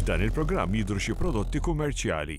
F'dan il-programm jidhru xi prodotti kummerċjali.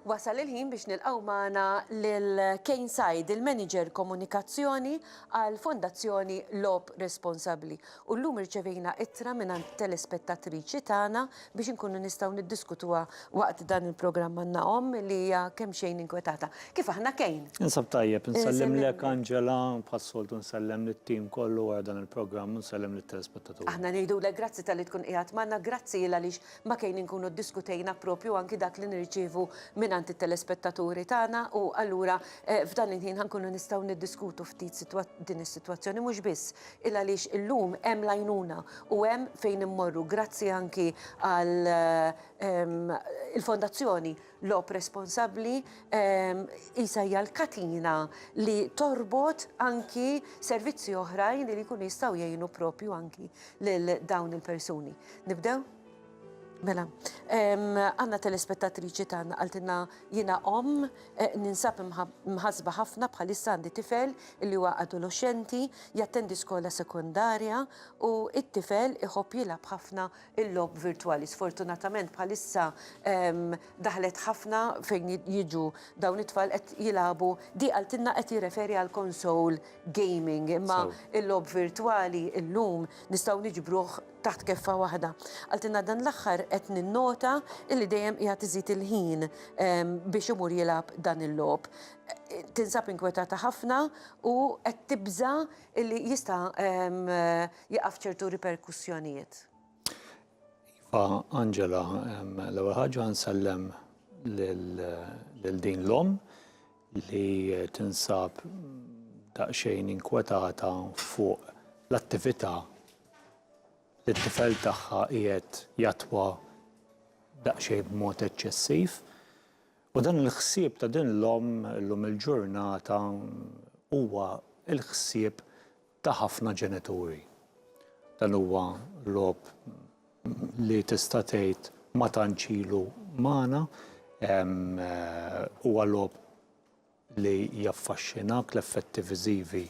Wasal il-ħin biex nilqgħu magħna lil Kane Said, il-Manager Komunikazzjoni għall-Fondazzjoni Logħob Responsabbli. u llum irċevejna ittra mingħand telespettatriċi tagħna biex inkunu nistgħu niddiskutuha waqt dan il-programm. Għandna omm li hija kemxejn inkwetata. Kif aħna Kane? Ninsab tajjeb. Nsellimlek Angela, bħas-soltu nsellem lit-tim kollu wara dan il-programm u nsellem lit-telespettaturi. Aħna ngħidulek grazzi talli tkun qiegħed magħna, grazzi il għaliex ma' Kane inkunu ddiskutejna proprju anki dak li nirċievu mingħand it-telespettaturi tagħna u allura f'dan il-ħin ħa nkunu nistgħu niddiskutu ftit din is-sitwazzjoni mhux biss il għaliex illum hemm l-għajnuna u hemm fejn immorru grazzi anki għal ehm, il-Fondazzjoni Lob Responsabbli ehm, isa hija l-katina li torbot anki servizzi oħrajn li jkunu jistgħu jgħinu propju anki lil dawn il-persuni. Nibdew? Mela, għanna telespettatriċi tagħna għaltina jiena om eh, ninsab mħasba ħafna bħalissa għandi tifel li huwa adolescenti jattendi skola sekundarja u it-tifel iħobb jilgħab ħafna il-lob virtwali. Sfortunatament bħalissa daħlet ħafna fejn jiġu dawn it-tfal qed jilagħbu di għaltinna qed jirreferi għal konsol gaming imma il-lob virtwali illum nistgħu niġbruh taħt keffa waħda. Qaltilna dan l-aħħar qed ninnota illi dejjem qiegħed iżid il-ħin biex imur jilgħab dan il-logħob. Tinsab inkwetata ħafna u qed tibża' illi jista' jieqaf ċertu riperkussjonijiet. Iva, Angela, l-ewwel ħaġa nsellem lil din l-omm li tinsab daqsxejn inkwetata fuq l-attività li t-tifel tagħha qiegħed jattwa daqsxejn b'mod eċċessiv. U dan il-ħsieb ta' din l-omm illum il-ġurnata huwa l-ħsieb ta' ħafna ġenituri. Dan huwa logħob li tista' tgħid ma tantx ilu magħna, huwa logħob li jaffaxxinak, l-effetti viżivi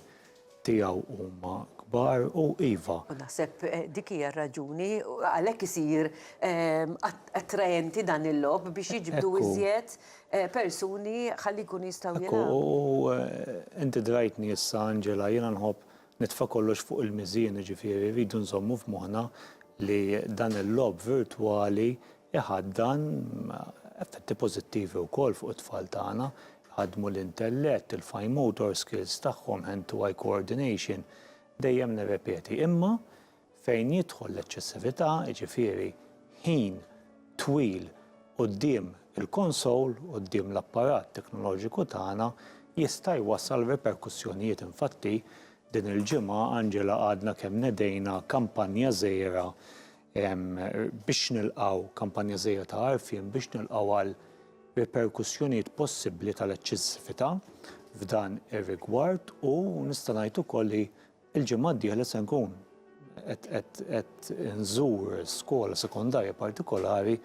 tiegħu huma kbar u iva. U naħseb dik hija r-raġuni għalhekk isir attraenti dan il-logħob biex jiġbdu iżjed persuni ħalli jkunu jistgħu jilagħbu. Ekku, u inti drajtni issa Angela, jiena nħobb nitfa' kollox fuq il-miżien, jiġifieri rridu nżommu f'moħħna li dan il-logħob virtwali Iħaddan effetti pożittivi wkoll fuq it-tfal tagħna, iħaddmu l-intellett, il-fine motor skills tagħhom, hand to eye coordination, dejjem nirrepeti. Imma fejn jidħol l-eċċessività, jiġifieri ħin twil quddiem il-konsol, quddiem l-apparat teknoloġiku tagħna, jista' jwassal riperkussjonijiet. Infatti, din il-ġimgħa Angela għadna kemm nedejna kampanja żgħira biex nilqgħu kampanja żejda ta' għarfien biex nilqgħu għal riperkussjonijiet possibbli tal-eċċessività f'dan ir-rigward u nista' ngħid ukoll li l-ġimgħa d-dieħla se nkun qed inżur skola sekondarja partikolari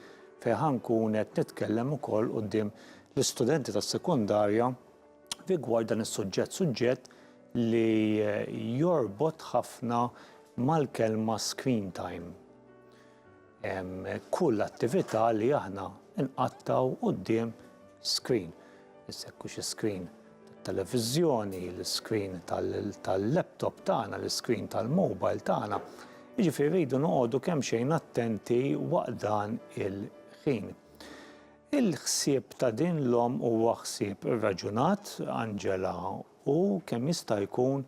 fejn ħa nkun qed nitkellem ukoll quddiem l-istudenti tas-sekondarja rigward dan is-suġġett, suġġett li jorbot ħafna mal-kelma screen time. Kull attività li aħna nqattaw qudiem screen. Issekku xi screen tal-televiżjoni, l-screen tal-laptop tagħna, l-screen tal-mobile tagħna. Jiġifieri rridu noqogħdu kemm xejn attenti waqt dan il-ħin. Il-ħsieb ta' din l-omm huwa ħsieb irraġunat, Angela, u kemm jista' jkun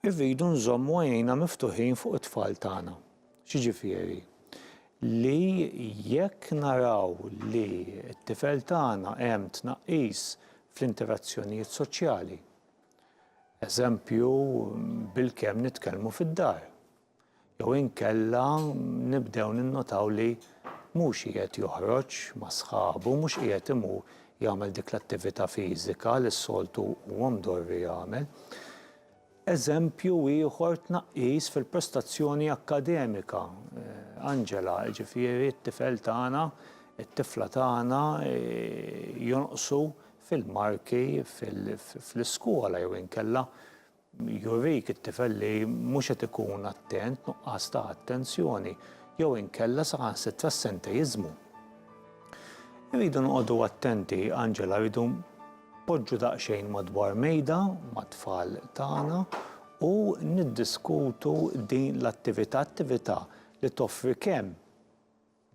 irridu nżommu għajnejna miftuħin fuq it-tfal tagħna. X'jiġifieri? Li jekk naraw li t-tifel tagħna hemm tnaqqis fl-interazzjonijiet soċjali, eżempju, bilkemm nitkellmu fid-dar, jew inkella nibdew ninnotaw li mhux qiegħed joħroġ ma' sħabu, mhux qiegħed imur jagħmel dik l-attività fiżika li s-soltu huwa mdorri jagħmel. Eżempju ieħor tnaqqis fil-prestazzjoni akkademika. Angela, jiġifieri t-tifel tagħna, it-tifla tagħna jonqsu fil-marki fl-iskola jew inkella Jurik it-tifel li mhux qed ikun attent, nuqqas ta' attenzjoni, jew inkella saħansitra s-senteiżmu. Irridu noqogħdu attenti, Angela, rridu poġġu daqsxejn madwar mejda mat-tfal tagħna u niddiskutu din l-attività, attività li toffri kemm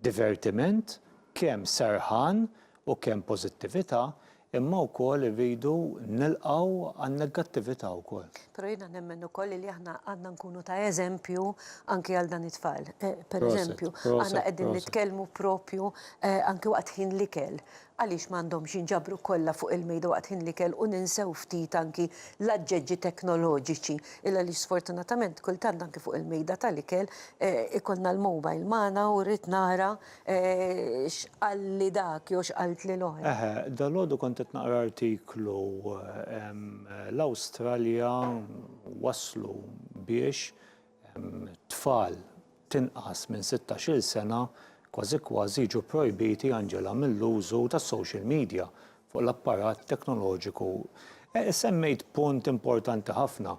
divertiment, kemm serħan u kemm pożittività, imma wkoll irridu nilqgħu għan-negattività wkoll. Però jiena nemmen ukoll li aħna għandna nkunu ta' eżempju anki għal dan it-tfal. Pereżempju, aħna qegħdin nitkellmu propju anki waqt ħin l-ikel Għaliex ma għandhomx jinġabru kollha fuq il-mejda waqt ħin l-ikel u ninsew ftit anki l-aġġeġġi teknoloġiċi? Il għaliex sfortunatament kultant anki fuq il-mejda tal-ikel ikollna l-mobile magħna u rrid nara x'qalli dak jew x'qaltli l-oħra. Eħe, dalgħodu kont qed naqra artiklu l-Awstralja waslu biex Tfal t'inqas minn sittax-il sena kważi kważi jiġu pprojbiti, Angela, mill-użu tas-social media fuq l-apparat teknoloġiku. Semmejt punt importanti ħafna.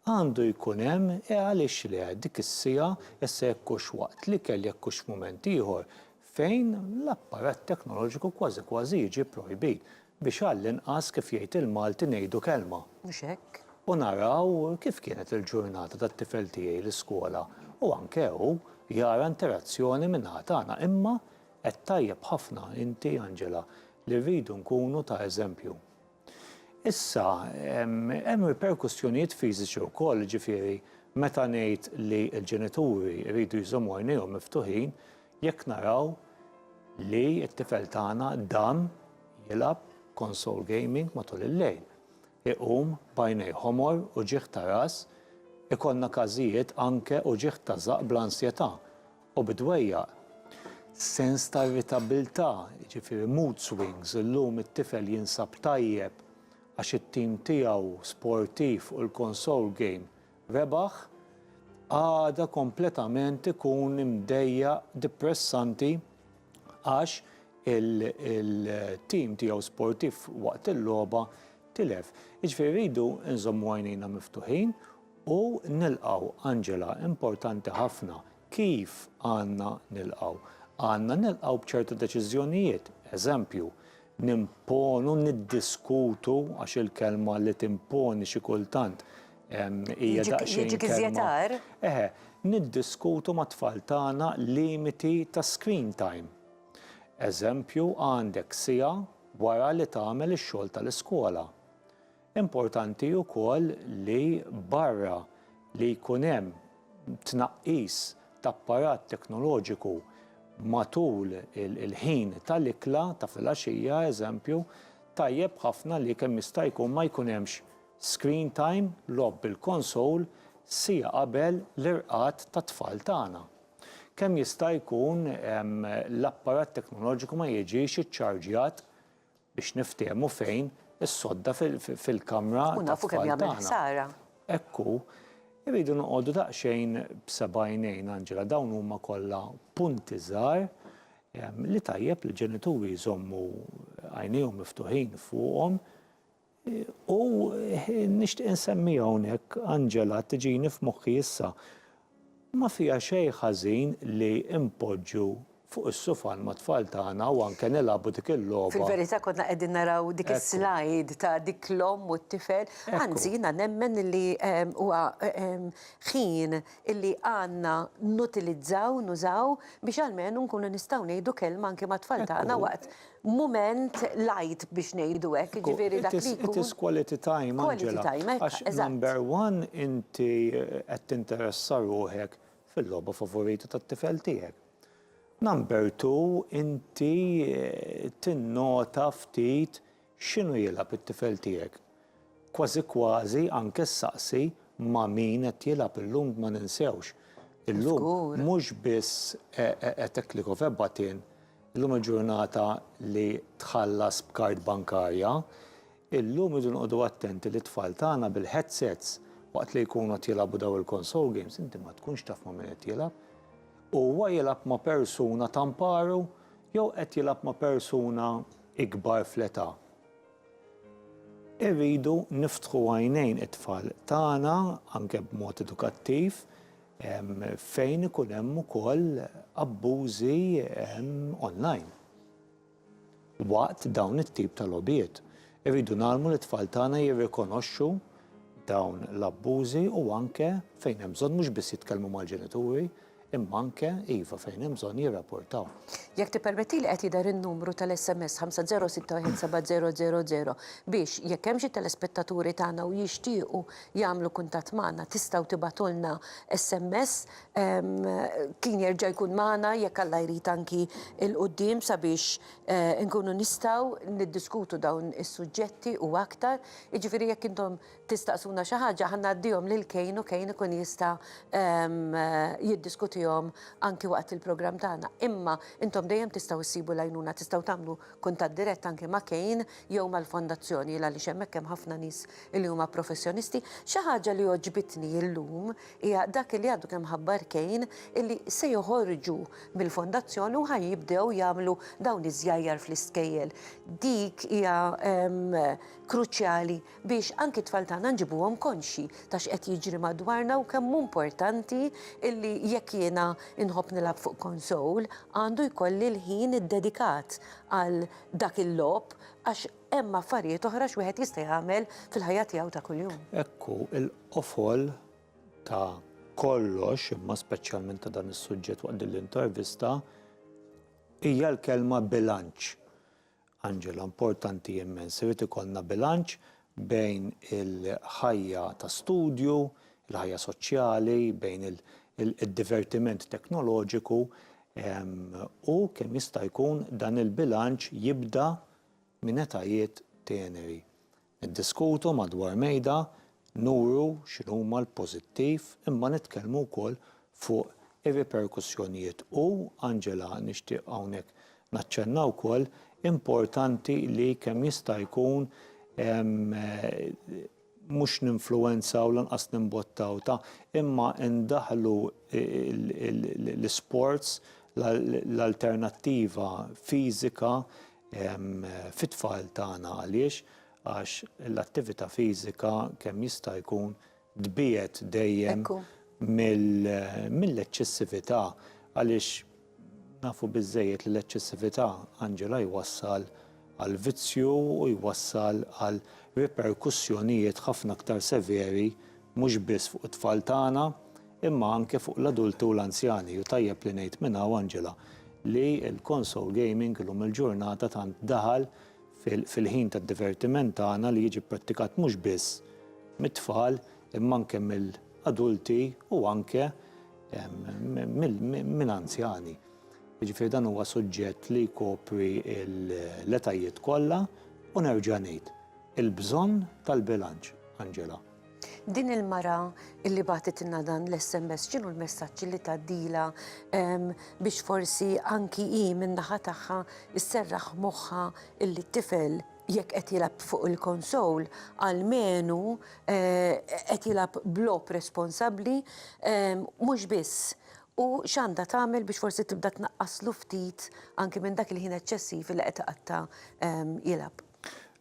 Għandu jkun hemm, e għaliex le, dik is-siegħa, issa jekk hux waqt l-ikel jekk hux f'mument ieħor, fejn l-apparat teknoloġiku kważi kważi jiġi pprojbit. Biex għall-inqas, kif jgħid il-Malti, ngħidu kelma. Mhux hekk? U naraw kif kienet il-ġurnata tat-tifel tiegħi l-iskola u anke hu jara interazzjoni min-naħa tagħna. Imma għedt tajjeb ħafna inti, Angela, li rridu nkunu ta' eżempju. Issa, hemm riperkussjonijiet fiżiċi wkoll, jiġifieri meta ngħid li l-ġenituri jridu jżommu għajnejhom miftuħin jekk naraw li t-tifel tagħna dam Jilgħab console gaming matul il-lejl. Iqum b'għajnej ħomor, uġigħ ta' ras, ikollna każijiet anke uġigħ ta' żaqq bl-ansjetà, u bid-dwejjaq. Sens ta' irritabilità, jiġifieri mood swings, illum it-tifel jinsab tajjeb għax it-tim tiegħu sportiv u l-console game rebaħ, għada kompletament ikun imdejjaq, dipressanti, għax il-tim tiegħu sportiv waqt il-logħba tilef. Jiġifieri rridu nżommu għajnejna miftuħin u nilqgħu Angela importanti ħafna kif għandna nilqgħu. Għandna nilqgħu b'ċertu deċiżjonijiet, eżempju, Nimponu, niddiskutu, għax il-kelma li timponi xi kultant hija daqsxejn kelma. Jiġik iżjetar? Eħe, niddiskutu mat-tfal tagħna limiti ta' screen time. Eżempju, għandek siegħa wara li tagħmel ix-xogħol tal-iskola. Importanti wkoll li barra li jkun hemm tnaqqis t'apparat teknoloġiku matul il-ħin tal-ikla ta' filgħaxija, eżempju, tajjeb ħafna li kemm jista' jkun ma jkun hemmx screen time, logħob bil-konsol, siegħa qabel l-irqad tat-tfal tagħna. Kemm jista' jkun l-apparat teknoloġiku ma jiġix iċċarġjat biex niftiehmu fejn is-sodda fil-kamra tat-tfal tagħna. U nafu kemm jagħmel ħsara. Hekk hu. Irridu noqogħdu daqsxejn b'sebgħajnejn, Angela, dawn huma kollha punti żgħar li tajjeb li l-ġenituri jżommu għajnejhom miftuħin fuqhom U nixtieq insemmi hawnhekk Angela tiġini f'moħħi issa. Ma fiha xejn ħażin li npoġġu fuq is-sufan mat-tfal tagħna u anke nilagħbu dik il-logħba. Fil-verità konna qegħdin naraw dik is-slide ta' dik l-omm u t-tifel. Anzi jiena nemmen li huwa ħin illi għandna nutilizzaw, nużaw biex almenu nkunu nistgħu ngħidu kelma anke mat-tfal tagħna waqt mument light biex ngħidu hekk, jiġifieri dak li jkun. It is quality time, Angela. Quality time, hekk, eżatt. Għax number one inti qed tinteressa ruħek fil-logħba favorita tat-tifel tiegħek. Number two inti tinnota ftit x'inhu jilgħab it-tifel tiegħek. Kważi kważi anke ssaqsi ma' min qed jilgħab illum ma ninsewx. Illum mhux biss a tackle of a button Illum il-ġurnata li tħallas b'kard bankarja, illum irridu noqogħdu attenti li t-tfal tagħna bil-headsets waqt li jkunu qed jilagħbu dawn il-console games inti ma tkunx taf ma' min qed jilgħab. Huwa jilgħab ma' persuna ta' mparu jew qed jilgħab ma' persuna ikbar fl-età? Irridu niftħu għajnejn it-tfal tagħna anke b'mod edukattiv fejn ikun hemm ukoll abbużi online waqt dawn it-tip ta' logħbiet. Irridu ngħallmu lit-tfal tagħna jirrikonoxxu dawn l-abbużi u anke fejn hemm bżonn mhux biss jitkellmu mal-ġenituri imma anke iva fejn hemm bżonn jirrapportaw. Jekk tippermettili qed jidher in-numru tal-SMS 50617000 biex jekk hemm xi telespettaturi tagħna u jixtiequ jagħmlu kuntatt magħna tistgħu tibgħatulna SMS. Kien jerġa' jkun magħna jekk Alla jrid anki il quddiem sabiex inkunu nistgħu niddiskutu dawn is-suġġetti u aktar. Jiġifieri jekk intom tistaqsuna xi ħaġa ħa ngħaddihom lil Kane u Kane ikun jista' jiddiskutihom anki waqt il-programm tagħna. Imma intom dejjem tistgħu ssibu l-għajnuna, tistgħu tagħmlu kuntatt dirett anki ma' Kane jew mal-fondazzjoni għaliex hemmhekk hemm ħafna nies li huma professjonisti. Xi ħaġa li għoġbitni illum hija dak li għadu kemm ħabbar Kane illi se joħorġu mill-fondazzjoni u ħa jibdew jagħmlu dawn iż-żjajjar fl-iskejjel. Dik hija kruċjali biex anki t-tfal tagħna nġibuhom konxji ta' x'qed jiġri madwarna u kemm hu importanti illi jekk jiena nħobb nilgħab fuq konsol għandu jkolli l-ħin iddedikat għal dak il-logħob għax hemm affarijiet oħra x'wieħed jista' jagħmel fil-ħajja tiegħu ta' kuljum. Hekk hu, il-qofol ta' kollox, imma speċjalment ta' dan is-suġġett waqt din l-intervista, hija l-kelma bilanċ. Angela, importanti immens, irid ikollna bilanċ bejn il-ħajja ta' studju, il-ħajja soċjali, bejn id-divertiment teknoloġiku, u kemm jista' jkun dan il-bilanċ jibda minn etajiet teneri. Niddiskutu madwar mejda, nuru x'inhuma l-pożittiv imma nitkellmu wkoll fuq ir-riperkussjonijiet u, Angela, nixtieq hawnhekk naċċenna wkoll, importanti li kemm jista' jkun mhux ninfluwenzaw lanqas nimbottaw ta' imma ndaħħlu l-isports, l-alternattiva fiżika fit-tfal tagħna għaliex għax l-attività fiżika kemm jista' jkun tbiegħed dejjem mill-eċċessività għaliex nafu biżżejjed li l-eċċessività, Angela, jwassal għall-vizzju u jwassal għal riperkussjonijiet ħafna aktar severi mhux biss fuq it-tfal tagħna imma anke fuq l-adulti u l-anzjani u tajjeb li ngħid minn hawn, Angela, li l-console gaming illum il-ġurnata tant daħal fil-ħin tad-divertiment tagħna li jiġi pprattikat mhux biss mit-tfal imma anke mill-adulti u anke minn anzjani. Jiġifieri dan huwa suġġett li jkopri l-etajiet kollha u nerġa' ngħid, il-bżonn tal-bilanċ, Angela. Din il-mara illi bagħtitilna dan l-SMS x'inhu l-messaġġ li tgħaddilha biex forsi anki hi min-naħa tagħha sserraħ moħħha illi t-tifel jekk qed jilgħab fuq il-konsol għalmenu qed jilgħab b'logħob responsabbli mhux biss u x'għandha tagħmel biex forsi tibda tnaqqaslu ftit anki minn dak il-ħin eċċessiv li qed iqatta' jilgħab.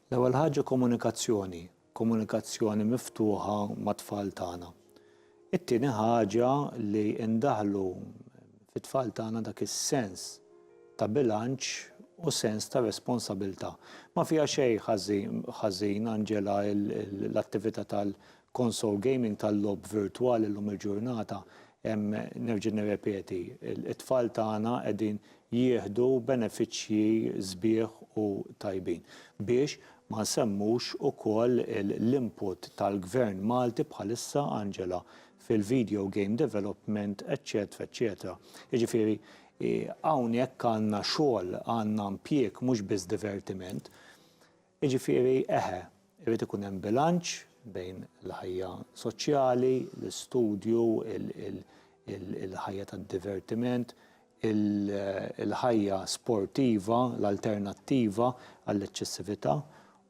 L-ewwel ħaġa komunikazzjoni, komunikazzjoni miftuħa mat-tfal tagħna. It-tieni ħaġa li ndaħħlu fit-tfal tagħna dak is-sens ta' bilanċ u sens ta' responsabilità. Ma fiha xejn ħażin, Angela, l-attività tal-console gaming, tal-logħob virtwali llum il-ġurnata, nerġa' nirrepeti, it-tfal tagħna qegħdin jieħdu benefiċċji sbieħ u tajbin biex Ma nsemmux ukoll l-input tal-Gvern Malti bħalissa, Angela, fil-video game development eċċetera eċċetera. Jiġifieri hawnhekk għandna xogħol, għandna impjieg mhux biss divertiment. Jiġifieri eħe, irid ikun hemm bilanċ bejn il-ħajja soċjali, l-istudju, il-ħajja tad-divertiment, il-ħajja sportiva, l-alternattiva għall-eċċessività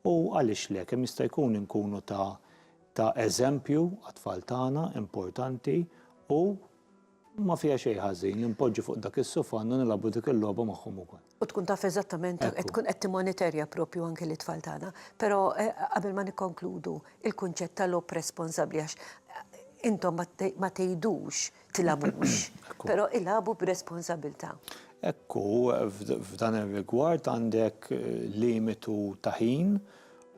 u għaliex le, kemm jista' jkun inkunu ta' ta' eżempju għat-tfal tagħna, importanti, u ma fiha xejn ħażin li npoġġu fuq dak is-sufan u nilagħbu dik il-logħba magħhom ukoll. U tkun taf eżattament, qed tkun qed timmoniterja propju anke lit-tfal tagħna. Però qabel ma nikkonkludu, il-kunċett ta' logħob responsabbli għax intom ma tgħidux tilgħabux, però ilagħbu b'responsabbiltà. Hekk hu, f'dan ir-rigward għandek limitu ta' ħin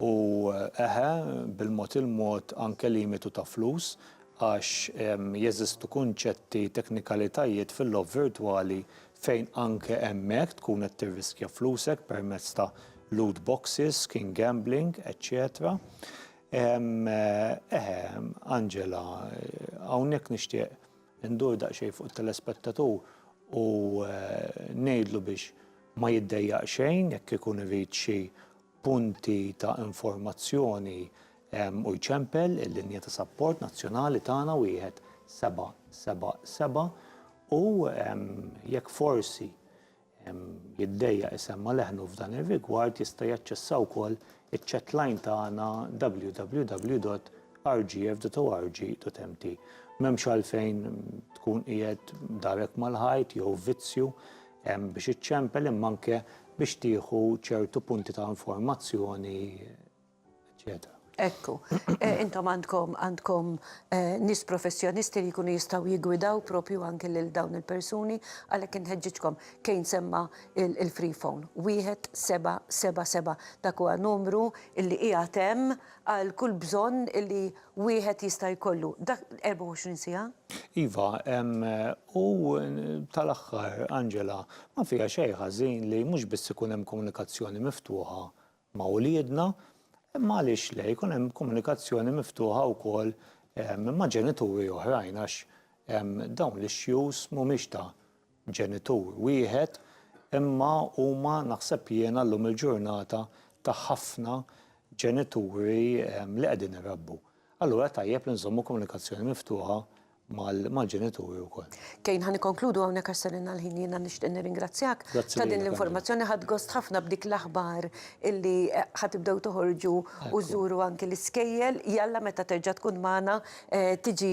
u, eħe, bil-mod il-mod anke limitu ta' flus għax jeżistu kunċetti, teknikalitajiet fil-logħob virtwali fejn anke hemmhekk tkun qed tirriskja flusek permezz ta' loot boxes, skin gambling, eċċetera. Eħe, Angela, hawnhekk nixtieq indur daqsxejn fuq it-telespettatur u ngħidlu biex ma jiddejjaq xejn jekk ikun irid xi punti ta' informazzjoni u jċempel il-linja ta' sapport nazzjonali tagħna 1777 u jekk forsi jiddejjaq isemma' leħnu f'dan ir-rigward jista' jaċċessa wkoll iċ-chatline tagħna www.rgf.org.mt. M'hemmx għalfejn tkun qiegħed darek mal-ħajt jew vizzju hemm biex iċċempel imma anke biex tieħu ċertu punti ta' informazzjoni, eċċetera. Ekku, eh, intom għandkom għandkom eh, nis professjonisti li jkunu jistaw jigwidaw propju anke lil dawn il-persuni għalhekk inħeġġiġkom kejn semma il-free phone. Wieħed seba' seba' seba' dak huwa numru illi qiegħed hemm għal kull bżonn illi wieħed jista' jkollu dak 24 siegħa? Iva, u tal-aħħar, Angela, ma fiha xejn ħażin li mhux biss ikun hemm komunikazzjoni miftuħa ma' uliedna, imma għaliex le, jkun hemm komunikazzjoni miftuħa wkoll ma' ġenituri oħrajn għax dawn l-issues mhumiex ta' ġenitur wieħed, imma huma naħseb jiena llum il-ġurnata ta' ħafna ġenituri li qegħdin irabbu. Allura tajjeb li nżommu komunikazzjoni miftuħa mal-ġenituri wkoll. Kane, ħa nikkonkludu hawnhekk għax ser ingħal ħin, jiena nixtieq nirringrazzjak ta' din l-informazzjoni. Ħadt gost ħafna b'dik l-aħbar illi ħa tibdew toħorġu u żżuru anki l-iskejjel. Jalla meta terġa' tkun magħna tiġi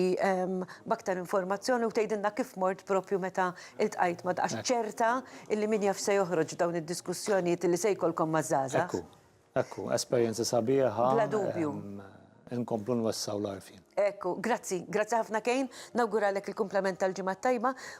b'aktar informazzjoni u tgħidilna kif mort proprju meta ltqajt ma' għax ċerta illi min jaf x'se joħroġ f'dawn id-diskussjonijiet illi se jkollkom maż-żgħażagħ. Ekku, ekku, esperjenza sabiħa. Bla dubju. Inkomplu nwessgħu l-għarfien. Ekku, grazzi, grazzi ħafna Kane, nawguralek il-kumplament tal-Ġimgħa t-Tajba.